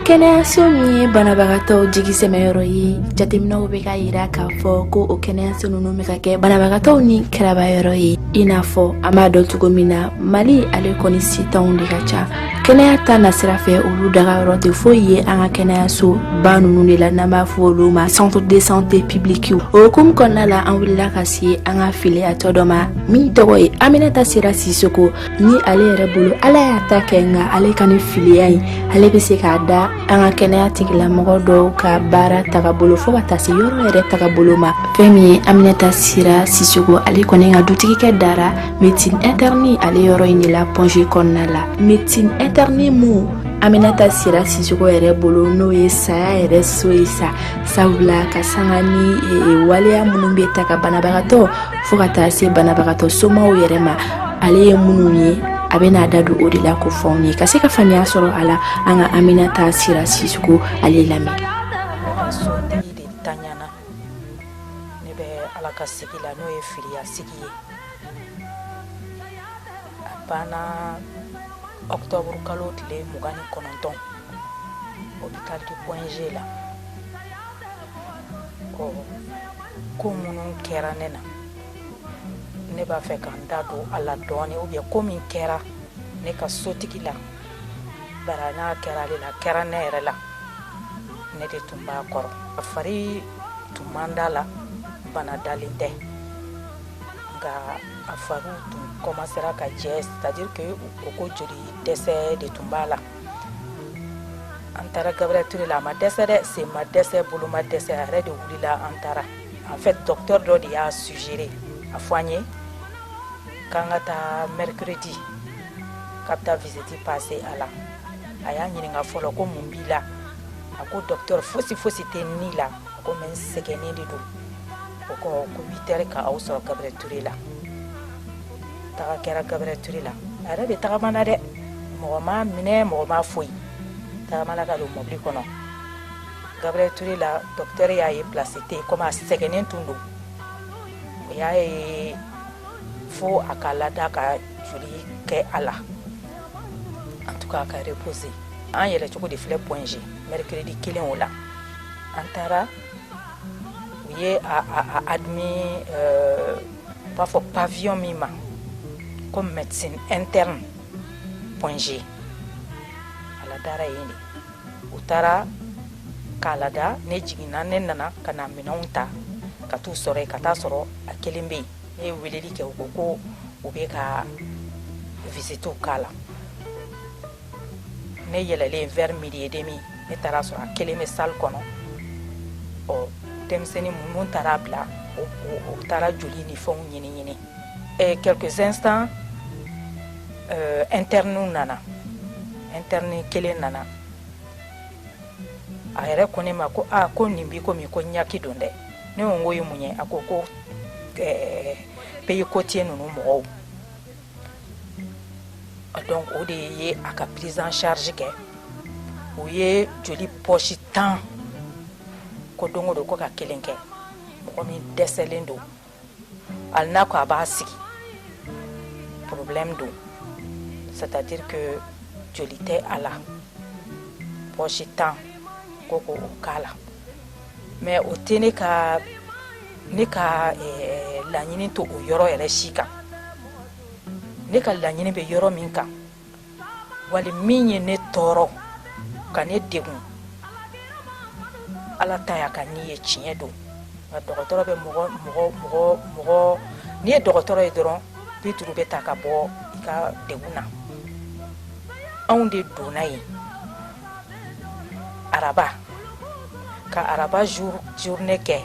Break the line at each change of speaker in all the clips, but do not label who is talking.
kɛnɛyaso min ye banabagatɔw jigi sɛmɛyɔrɔ ye jateminɛw bɛ k'a yira k'a fɔ ko o kɛnɛyaso ninnu bɛ ka kɛ banabagatɔw nikarabayɔrɔ ye i n'a fɔ an b'a dɔn cogo min na mali ale kɔni setanw de ka ca kɛnɛya ta nasira fɛ olu dagayɔrɔ tɛ foyi ye an ka kɛnɛyaso ba ninnu de la n'an b'a fɔ olu ma centre de santé publique o hukumu kɔnɔna la an wulila ka se an ka filiyatɔ dɔ ma min tɔgɔ ye aminata sira sisoko ni ale yɛrɛ bolo ala y'a ta kɛ nka ale ka ni filiya in ale bɛ se k'a da an ka kɛnɛya tigilamɔgɔ dɔw ka baara tagabolo fo ka taa se yɔrɔ yɛrɛ tagabolo ma fɛn min ye aminata sira sisoko ale kɔni ka dutigikɛ dara médecine interne ale yɔrɔ in de la point g kɔnɔna la médecine interne min aminata sira sisoko yɛrɛ bolo n'o ye saya yɛrɛ so ye sa sabula k'a sanga ni e, e, waleya minnu bɛ ta ka banabagatɔ fo ka taa se banabagatɔ somaw yɛrɛ ma ale ye minnu ye a bɛ n'a da don o de la k'o fɔ anw ye ka se ka faamuya sɔrɔ a la an ka aminata sira sisoko ale lamɛn
sotigi de taɲana ne bɛ ala ka sigi la n'o ye filiya sigi ye a banna ɔkutɔburu kalo tile mugan ni kɔnɔntɔn hôpital du point g la ko minnu kɛra ne na ne b'a fɛ ka n da don a la dɔɔni ou bien ko min kɛra ne ka sotigi la bari n'a kɛra ale la kɛra ne yɛrɛ la ne de tun b'a kɔrɔ a fari tun man d'a la bana dalen tɛ nka a fariw tun kɔmansera ka jɛ c'est à dire que u ko ko joli dɛsɛ de tun b'a la an taara gabriel ture la a ma dɛsɛ dɛ sen ma dɛsɛ bolo ma dɛsɛ a yɛrɛ de wulila an taara en fait docteur dɔ de y'a suggéré a fɔ an ye k'an ka taa mercredi k'a bɛ taa visite passer a la a y'a ɲininka fɔlɔ ko mun b'i la a ko docteur fosi fosi tɛ ne la a ko mais n sɛgɛnnen de don o ko huit heures k'aw sɔrɔ gabriel ture la taga kɛra gabriel ture la a yɛrɛ de tagamana dɛ mɔgɔ m'a minɛ mɔgɔ ma foyi tagamana ka don mɔbili kɔnɔ gabriel ture la docteur y'a ye place tɛ comme a sɛgɛnnen tun don o y'a ye fo a ka lada ka joli kɛ a la en tout cas a ka reposer an yɛlɛ cogo de filɛ point g mercredi kelen o la an taara u ye a, a, a admis euh, U b'a fɔ pavillon min ma comme médecine interne point g a ladara yen de u taara k'a lada ne jiginna ne nana ka na minɛnw ta ka taa u sɔrɔ yen ka taa a sɔrɔ a kelen bɛ yen ne ye weleli kɛ u ko ko u bɛ ka visitew k'a la ne yɛlɛlen vers midi et demi ne taara sɔrɔ a kelen bɛ salle kɔnɔ ɔ denmisɛnnin minnu taara bila u taara joli ni fɛnw ɲini ɲini et quelques instants euh, interni nana interni kelen nana a yɛrɛ ko ne ma ko a ko nin bi komi ko ɲaki don dɛ ne ko n ko o ye mun ye a ko ko eh, pays côtier ninnu mɔgɔw donc o de ye a ka prise en charge kɛ o ye joli poche tan ko don o don ko ka kelen kɛ mɔgɔ min dɛsɛlen don ali n'a ko a b'a sigi problème don c'est-à-dire que joli tɛ a la poche tan ko k'o k'a la mais o tɛ ne ka ne ka laɲini t'o yɔrɔ yɛrɛ si kan ne ka laɲini bɛ yɔrɔ min kan wali min ye ne tɔɔrɔ ka ne degun ala ta y'a ka ni ye tiɲɛ don nka dɔgɔtɔrɔ bɛ mɔgɔ n'i ye dɔgɔtɔrɔ ye dɔrɔn bi duuru bɛ ta ka bɔ i ka degun na anw de donna yen araba ka araba journée kɛ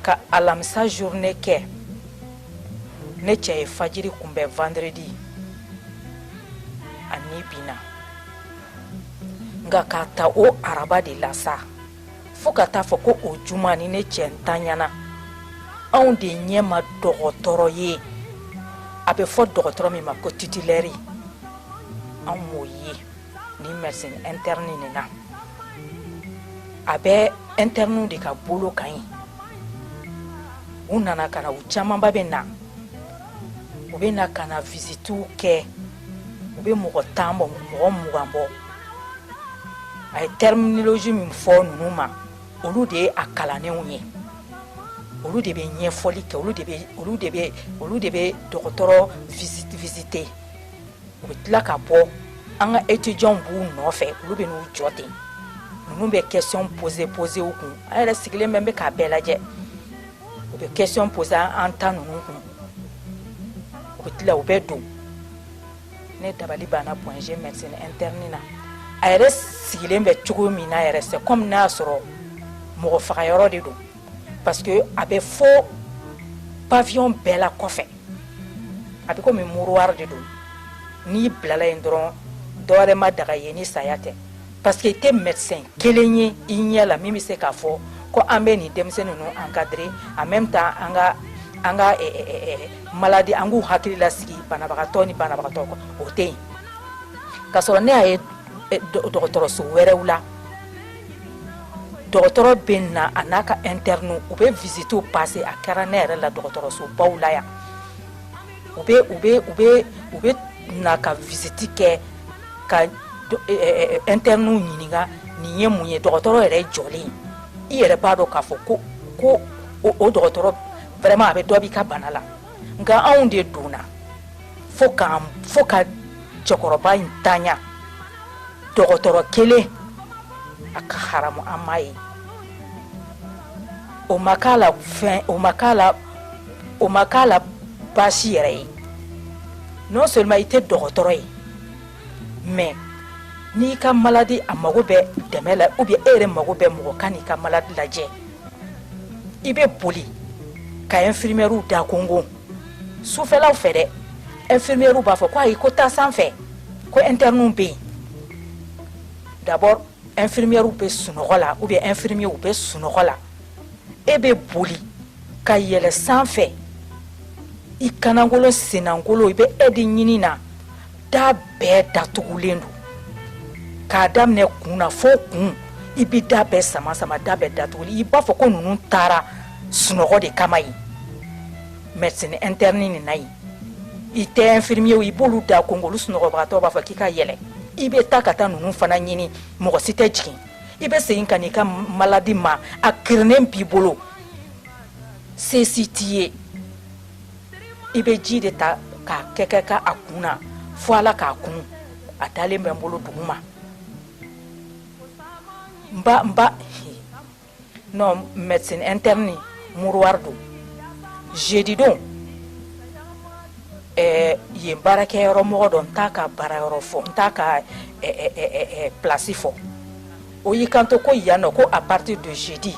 ka alamisa journée kɛ ne cɛ ye fajiri kunbɛn vendredi a ni binna nka ka ta o araba de la sa fo ka taa a fɔ ko o juma ni ne cɛ ntanyana anw de ɲɛ ma dɔgɔtɔrɔ ye a bɛ fɔ dɔgɔtɔrɔ min ma ko titulaire anw m'o ye ni médecine interne nin na a bɛ interniw de ka bolo kan yen u nana ka na u camanba bɛ na u bɛ na ka na visitiw kɛ u bɛ mɔgɔ tan bɔ mɔgɔ mugan bɔ a ye terminologie min fɔ ninnu ma olu de ye a kalannenw ye olu de bɛ ɲɛfɔli kɛ olu de bɛ olu de bɛ olu de bɛ dɔgɔtɔrɔ visite visite u bɛ tila ka bɔ an ka étudiantw b'u nɔfɛ olu bɛ n'u jɔ ten ninnu bɛ question poser poser u kun an yɛrɛ sigilen bɛ bɛ k'a bɛɛ lajɛ u bɛ question poser an ta ninnu kun u bɛ tila u bɛ don ne dabali banna point G médecine interne na a yɛrɛ sigilen bɛ cogo min na yɛrɛ c'est comme n'a y'a sɔrɔ mɔgɔ faga yɔrɔ de don parce que a bɛ fɔ pavillon bɛɛ la kɔfɛ a bɛ komi mouroir de don n'i bilala yen dɔrɔn dɔwɛrɛ ma daga ye ni saya tɛ parce que i tɛ médecin kelen ye i ɲɛ la min bɛ se k'a fɔ ko an bɛ nin denmisɛnnin ninnu encadrer en même temps an ka an ka maladi an k'u hakili lasigi banabagatɔ ni banabagatɔ o tɛ yen k'a sɔrɔ ne y'a ye dɔgɔtɔrɔso wɛrɛw la dɔgɔtɔrɔ bɛ na a n'a ka internes u bɛ visitew passer a kɛra ne yɛrɛ la dɔgɔtɔrɔsobaw la yan u u bɛ na ka visite kɛ ka internes ɲininka nin ye mun ye dɔgɔtɔrɔ yɛrɛ jɔlen i yɛrɛ b'a dɔn k'a fɔ ko ko o dɔgɔtɔrɔ vraiment a bɛ dɔ b'i ka bana la nka anw de donna fo ka fo ka cɛkɔrɔba in tanya dɔgɔtɔrɔ kelen a ka haramu an m'a ye o ma k'a la fɛn o ma k'a la o ma k'a la baasi yɛrɛ ye non seulement i tɛ dɔgɔtɔrɔ ye mais n'i ka maladi a mago bɛ dɛmɛ la ou bien e yɛrɛ mago bɛ mɔgɔ ka n'i ka maladi lajɛ i bɛ boli ka infirmières da konkon sufɛlaw fɛ dɛ infirmières b'a fɔ ko ayi ko taa sanfɛ ko internes bɛ yen d'abord infirmières bɛ sunɔgɔ la ou bien infirmiers bɛ sunɔgɔ la e bɛ boli ka yɛlɛ sanfɛ i kannankolon sennankolon i bɛ aide ɲini na da bɛɛ datugulen don k'a daminɛ kun na fo kun i bɛ da bɛɛ sama sama da bɛɛ datugulen i b'a fɔ ko ninnu taara sunɔgɔ de kama yen médecine interne nin na yen i tɛ infirmiers i b'olu da konkon olu sunɔgɔbagatɔ b'a fɔ k'i ka yɛlɛ i bɛ taa ka taa ninnu fana ɲini mɔgɔ si tɛ jigin i bɛ segin ka n'i ka maladi ma a kirinen b'i bolo se si t'i ye i bɛ ji de ta k'a kɛ kɛ ka a kun na fo ala k'a kun a dalen bɛ n bolo dugu ma n ba n ba non médecine interne mouroir don jeudi don ɛɛ yen baarakɛyɔrɔ mɔgɔ dɔ n t'a ka baarayɔrɔ fɔ n t'a ka ɛɛ ɛɛ place fɔ o y'i kanto ko yan nɔ ko à partir de jeudi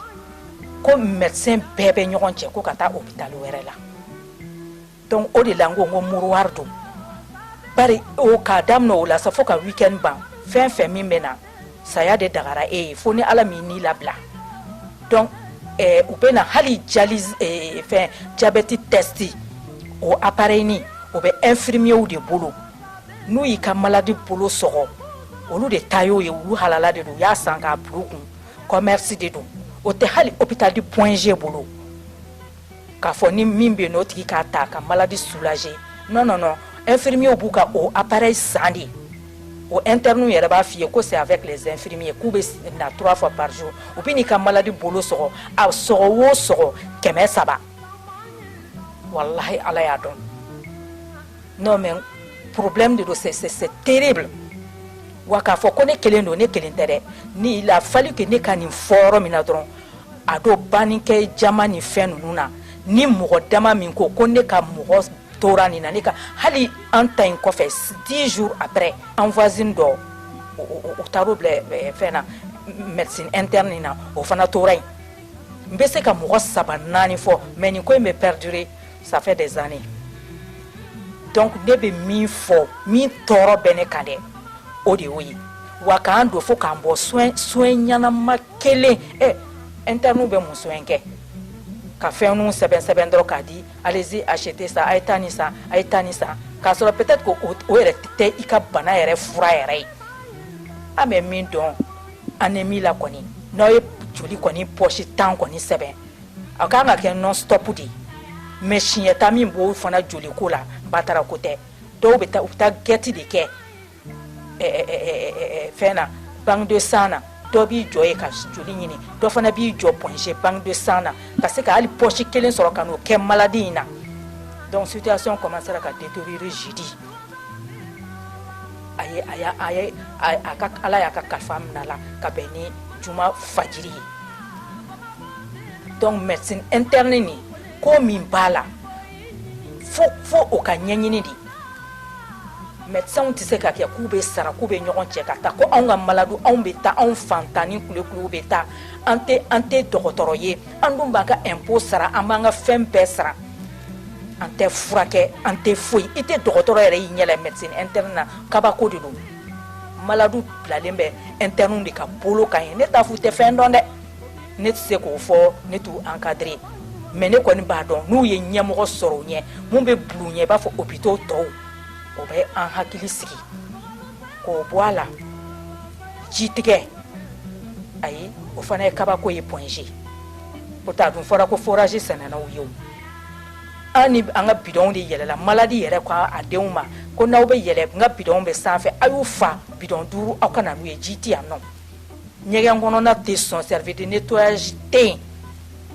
ko médecin bɛɛ bɛ ɲɔgɔn cɛ ko ka taa hôpital wɛrɛ la donc o de la n ko ko mouroir don bari k'a daminɛ o la sa fo ka weekend ban fɛn fɛn min bɛ na saya de dagara e ye fo ni ala m'i ni labila donc u bɛ na hali ja fɛn diabète test o appareil nin o bɛ infirmiers de bolo n'u y'i ka maladi bolo sɔgɔ olu de ta y'o ye olu halala de don u y'a san k'a kun kɔmɛrisi de don o tɛ hali hôpital du Point G bolo k'a fɔ ni min bɛ yen n'o tigi k'a ta ka maladi soulager non non non infirmiers b'u ka o appareil san de o internes yɛrɛ b'a f'i ye ko c'est avec les infirmiers k'u bɛ na trois fois par jour u bɛ n'i ka maladi bolo sɔgɔ a sɔgɔ o sɔgɔ kɛmɛ saba walahi ala y'a dɔn non mais problème de don c'est c'est terrible wa k'a fɔ ko ne kelen don ne kelen tɛ dɛ ni il a fallu que ne ka nin fɔ yɔrɔ min na dɔrɔn a don bannikɛ jama ni fɛn ninnu na ni mɔgɔ dama min ko ko ne ka mɔgɔ tora nin na ne ka hali an ta in kɔfɛ 10 jours après an voisine dɔ u taar'o bila eh, fɛn na médecine interne in na o fana tora yen n bɛ se ka mɔgɔ saba naani fɔ mais nin ko in bɛ perdurer ça fait des années donc ne bɛ min fɔ min tɔɔrɔ bɛ ne kan dɛ o de y'o ye wa k'an don fo k'an bɔ soin ɲɛnama kelen internes bɛ mun soin kɛ ka fɛnw sɛbɛn sɛbɛn dɔrɔn k'a di allez-y acheter ça a ye taa nin san a ye taa nin san k'a sɔrɔ peut-être que o yɛrɛ tɛ i ka bana yɛrɛ fura yɛrɛ ye an bɛ min dɔn anémie la kɔni n'aw ye joli kɔni poche tan kɔni sɛbɛn a kan ka kɛ non-stop de ye mais siɲɛta min b'o fana joli ko la batara ko tɛ dɔw bɛ taa u taa gɛti de kɛ fɛn na banque de sang na dɔ b'i jɔ ye ka joli ɲini dɔ fana b'i jɔ Point G banque de sang na ka se ka hali poche kelen sɔrɔ ka n'o kɛ maladi in na donc situation commencera ka détériorer jeudi a a a ka ala y'a ka kalifa minɛ a la ka bɛn ni juma fajiri ye donc médecine interne nin ko min b'a la fo fo o ka ɲɛɲini de médecins tɛ se ka kɛ k'u bɛ sara k'u bɛ ɲɔgɔn cɛ ka taa ko anw ka maladu anw bɛ taa anw fantan ni kulekuluw bɛ taa an tɛ an tɛ dɔgɔtɔrɔ ye an dun b'an ka impôt sara an b'an ka fɛn bɛɛ sara an tɛ furakɛ an tɛ foyi i tɛ dɔgɔtɔrɔ yɛrɛ y'i ɲɛ la médecine interne na kabako de don maladu bilalen bɛ internes de ka bolo kan yen ne t'a fɔ u tɛ fɛn dɔn dɛ ne tɛ se k'o fɔ ne t'u encadrer mais ne kɔni b'a dɔn n'u ye ɲɛmɔgɔ sɔrɔ u ɲɛ mun bɛ bil'u ɲɛ i b'a fɔ hôpitaux tɔw o bɛ an hakili sigi k'o bɔ a la ji tigɛ ayi o fana ye kabako ye Point G pourtant a dun fɔra ko forage sɛnɛna u ye o. an ni an ka bidɔnw de yɛlɛla maladi yɛrɛ ko a denw ma ko n'aw bɛ yɛlɛ n ka bidɔnw bɛ sanfɛ a y'u fa bidɔn duuru aw ka na n'u ye ji tɛ yan nɔ ɲɛgɛn kɔnɔna tɛ sɔn service de nettoyage tɛ yen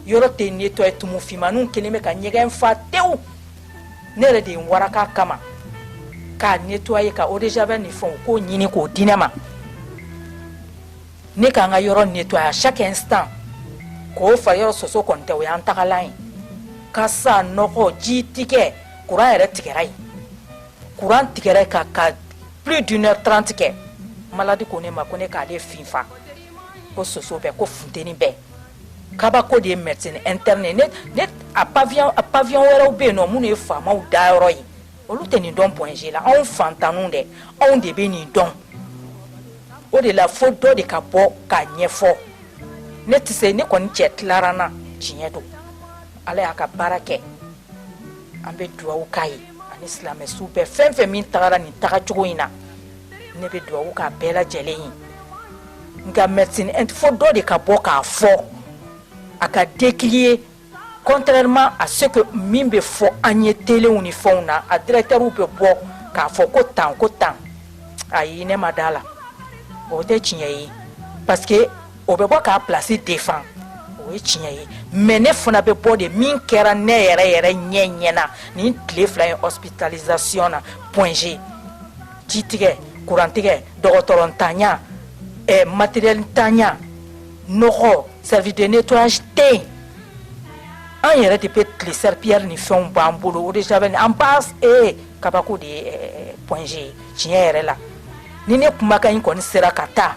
yɔrɔ tɛ nettoyer tumu finmaninw kelen bɛ ka ɲɛgɛn fa tewu ne yɛrɛ de ye n waraka kama k'a nettoyer ka eau de javel ni fɛnw k'o ɲini k'o di ne ma ne k'an ka yɔrɔ nettoyer à chaque instant k'o fa yɔrɔ soso kɔni tɛ o y'an tagalan ye kasa nɔgɔ ji tigɛ kuran yɛrɛ tigɛra yen kuran tigɛra yen ka ka plus d'une heure trente kɛ maladi ko ne ma ko ne k'ale finfa ko soso bɛ ko funteni bɛ kabako de ye médecine interne ne ne a pavillon a pavillon wɛrɛw bɛ yen nɔ minnu ye faamaw dayɔrɔ ye olu tɛ nin dɔn point G la anw faantanw dɛ anw de bɛ nin dɔn o de la fo dɔ de ka bɔ k'a ɲɛfɔ ne tɛ se ne kɔni cɛ tilara n na tiɲɛ don Ala y'a ka baara kɛ an bɛ dugawu k'a ye ani silamɛsu bɛɛ fɛn fɛn min tagara nin tagacogo in na ne bɛ dugawu k'a bɛɛ lajɛlen ye nka médecine fo dɔ de ka bɔ k'a fɔ a ka décrier Contrairement à ce que min bɛ fɔ an ye telew ni fɛnw na a directeurw bɛ bɔ k'a fɔ ko tan ko tan ayi ne ma da la o tɛ tiɲɛ ye parce que o bɛ bɔ k'a place défend o ye tiɲɛ ye mais ne fana bɛ bɔ de min kɛra ne yɛrɛ yɛrɛ ɲɛ ɲɛ na nin tile fila ye hospitalisation na point G ji tigɛ kurantigɛ dɔgɔtɔrɔ ntanya ɛ matériel ntanya nɔgɔ service de nettoyage tɛ yen an yɛrɛ de bɛ tile serpillère ni fɛnw b'an bolo eau de javel an b'a ee kabako de ye point G tiɲɛ yɛrɛ la ni ne kumakan in kɔni sera ka taa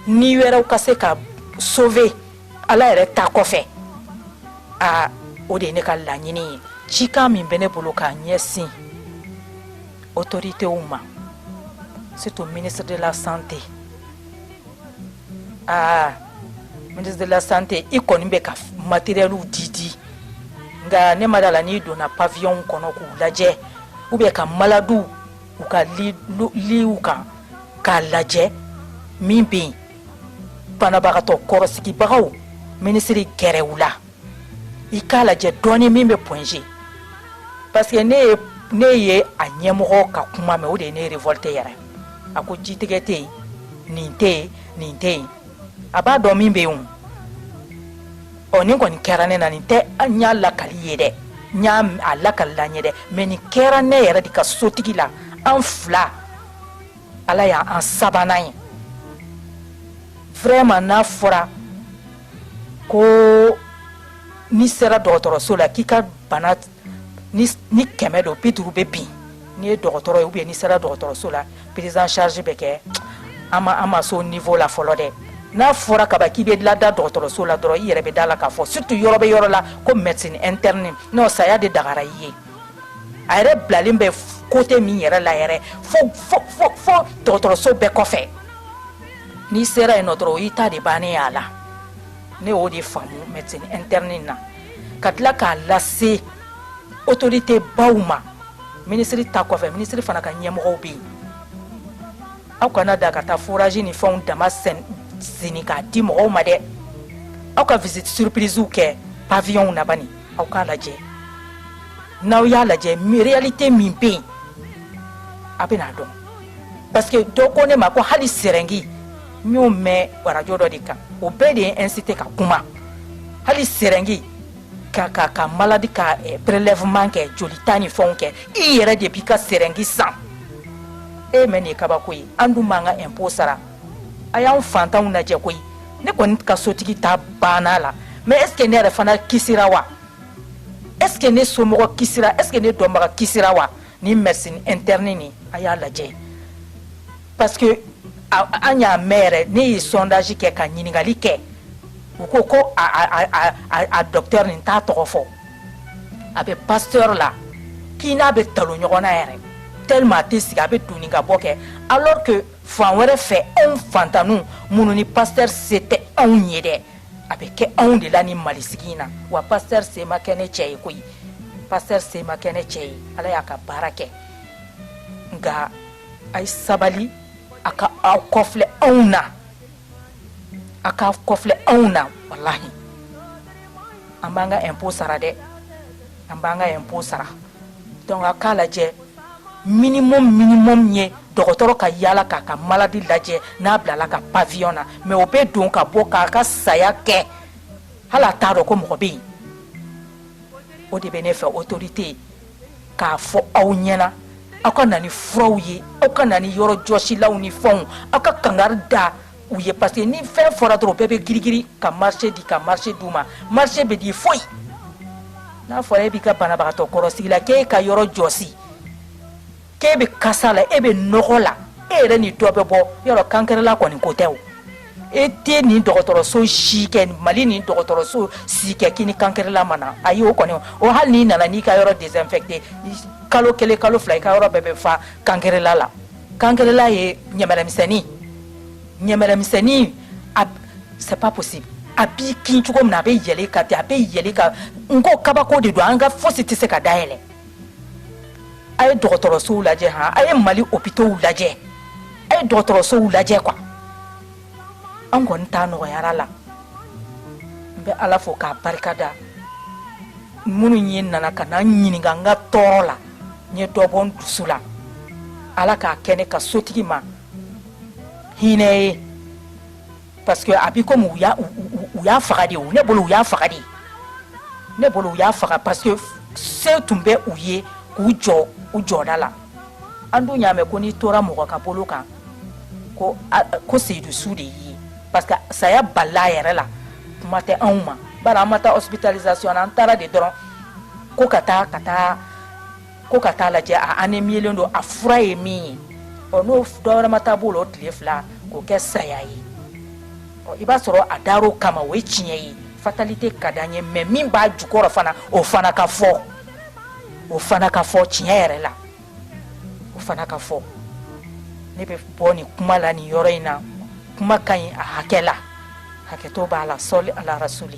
ni wɛrɛw ka se ka sauver ala yɛrɛ ta kɔfɛ aa o de ye ne ka laɲini ye cikan min bɛ ne bolo k'a ɲɛsin autoritéw ma surtout ministre de la santé aa ministre de la santé i kɔni bɛ ka matérielw di di nka ne ma da la n'i donna paviyɔnw kɔnɔ k'u lajɛ u bɛ ka maladiw u ka liw kan k'a lajɛ min bɛ yen banabagatɔ kɔrɔsigibagaw minisiri gɛrɛ u la i k'a lajɛ dɔɔni min bɛ point G parce que ne ye ne ye a ɲɛmɔgɔ ka kuma mɛn o de ye ne révolté yɛrɛ a ko jitigɛ tɛ yen nin tɛ yen nin tɛ yen a b'a dɔn min bɛ yen o ɔ nin kɔni kɛra ne na nin tɛ n y'a lakali ye dɛ n y'a a lakalila n ye dɛ mais nin kɛra ne yɛrɛ de ka sotigi la an fila ala y'an sabanan ye vraiment n'a fɔra ko n'i sera dɔgɔtɔrɔso la k'i ka bana ni kɛmɛ don bi duuru bɛ bin n'i ye dɔgɔtɔrɔ ye ou bien n'i sera dɔgɔtɔrɔso la prise en charge bɛ kɛ an ma s'o niveau la fɔlɔ dɛ n'a fɔra kaba k'i bɛ lada dɔgɔtɔrɔso la dɔrɔn i yɛrɛ bɛ da la k'a fɔ surtout yɔrɔ bɛ yɔrɔ la ko médecine interne non saya de dagara i ye a yɛrɛ bilalen bɛ côté min yɛrɛ la yɛrɛ fo dɔgɔtɔrɔso bɛɛ kɔfɛ n'i sera yen dɔrɔn o y'i ta de bannen y'a la ne y'o de faamu médecine interne na ka tila k'a lase autorité baw ma minisiri ta kɔfɛ minisiri fana ka ɲɛmɔgɔw bɛ yen aw kana da ka taa forage ni fɛnw dama seni k'a di mɔgɔw ma dɛ aw ka visite surprise kɛ pavillonw na bani aw k'a lajɛ n'aw y'a lajɛ réalité min bɛ yen a bɛna dɔn parce que dɔ ko ne ma ko hali sɛrɛngi n y'o mɛn arajo dɔ de kan o bɛɛ de ye incité ka kuma hali sɛrɛngi ka ka ka maladi ka eh, prélèvement kɛ jolita ni fɛnw kɛ i yɛrɛ de b'i ka sɛrɛngi san e mɛn nin ye kabako ye an dun b'an ka impôt sara a y'anw fantanw lajɛ koyi ne kɔni ka sotigi ta banna la mais est ce que ne yɛrɛ fana kisira wa est ce que ne somɔgɔ kisira est ce que ne dɔnbaga kisira wa ni médecine interne nin a y'a lajɛ parce que an y'a mɛn yɛrɛ ne ye sondage kɛ ka ɲininkali kɛ u ko ko a docteur nin t'a tɔgɔ fɔ a bɛ pasteur la k'i n'a bɛ talon ɲɔgɔn na yɛrɛ tellement a tɛ sigi a bɛ donni ka bɔ kɛ alors que fan wɛrɛ fɛ anw fantanniw minnu ni pasteur se tɛ anw ye dɛ a bɛ kɛ anw de la ni mali sigi in na wa pasteur se ma kɛ ne cɛ ye koyi pasteur se ma kɛ ne cɛ ye ala y'a ka baara kɛ nka a ye sabali a ka aw kɔfilɛ anw na a ka kɔfilɛ anw na walahi an b'an ka impôt sara dɛ an b'an ka impôt sara donc a k'a lajɛ minimum minimum ye dɔgɔtɔrɔ ka yaala k'a ka maladi lajɛ n'a bilala ka pavillon na mais o bɛ don ka bɔ k'a ka saya kɛ hali a t'a dɔn ko mɔgɔ bɛ yen o de bɛ ne fɛ autorité k'a fɔ aw ɲɛna aw ka na ni furaw ye aw ka na ni yɔrɔ jɔsilaw ni fɛnw aw ka kangari da u ye parce que ni fɛn fɔra dɔrɔn bɛɛ bɛ girigiri ka marché di ka marché di u ma marché bɛ di foyi n'a fɔra e b'i ka banabagatɔ kɔlɔsi la k'e ka yɔrɔ jɔsi k'e bɛ kasa la e bɛ nɔgɔ la e yɛrɛ ni dɔ bɛ bɔ yɔrɔ cancrelat kɔni ko tɛ e tɛ nin dɔgɔtɔrɔso si kɛ mali ni dɔgɔtɔrɔso si kɛ k'i ni cancrelat ma na ayi o kɔni o hali n'i nana n'i ka yɔrɔ désinfecter kalo kelen kalo fila i ka yɔrɔ bɛɛ bɛ fa cancrelat la cancrelat ye ɲɛmɛrɛmisɛnnin ɲɛmɛrɛmisɛnnin c'est pas possible a b'i kin cogo min na a bɛ yɛlɛ i kan ten a bɛ yɛlɛ i kan n ko kabako de don an ka fosi tɛ se ka dayɛlɛ a ye dɔgɔtɔrɔsow lajɛ han a ye mali hôpitaux lajɛ a ye dɔgɔtɔrɔsow lajɛ quoi an kɔni ta nɔgɔyara la n bɛ ala fo k'a barika da minnu ye nana ka na n ɲininka n ka tɔɔrɔ la n ye dɔ bɔ n dusu la ala k'a kɛ ne ka sotigi ma hinɛ ye parce que a b'i komi u y'a faga de ne bolo u y'a faga de ne bolo u y'a faga parce que se tun bɛ u ye k'u jɔ u jɔda la an dun y'a mɛn ko n'i tora mɔgɔ ka bolo kan ko ko seyidu su de y'i ye parce que saya balila yɛrɛ la kuma tɛ anw ma bari an ma taa hospitalisation na an taara de dɔrɔn ko ka taa ka taa ko ka taaa lajɛ an ni milen don a fura ye min ye ɔ n'o dɔwɛrɛ ma taa b'o la o tile fila k'o kɛ saya ye i b'a sɔrɔ a dara o kama o ye tiɲɛ ye fatalité ka di an ye mais min b'a jukɔrɔ fana o fana ka fɔ o fana ka fɔ tiɲɛ yɛrɛ la o fana ka fɔ ne bɛ bɔ nin kuma la nin yɔrɔ in na kuma ka ɲi a hakɛ la hakɛto b'a la sɔli ala rasuli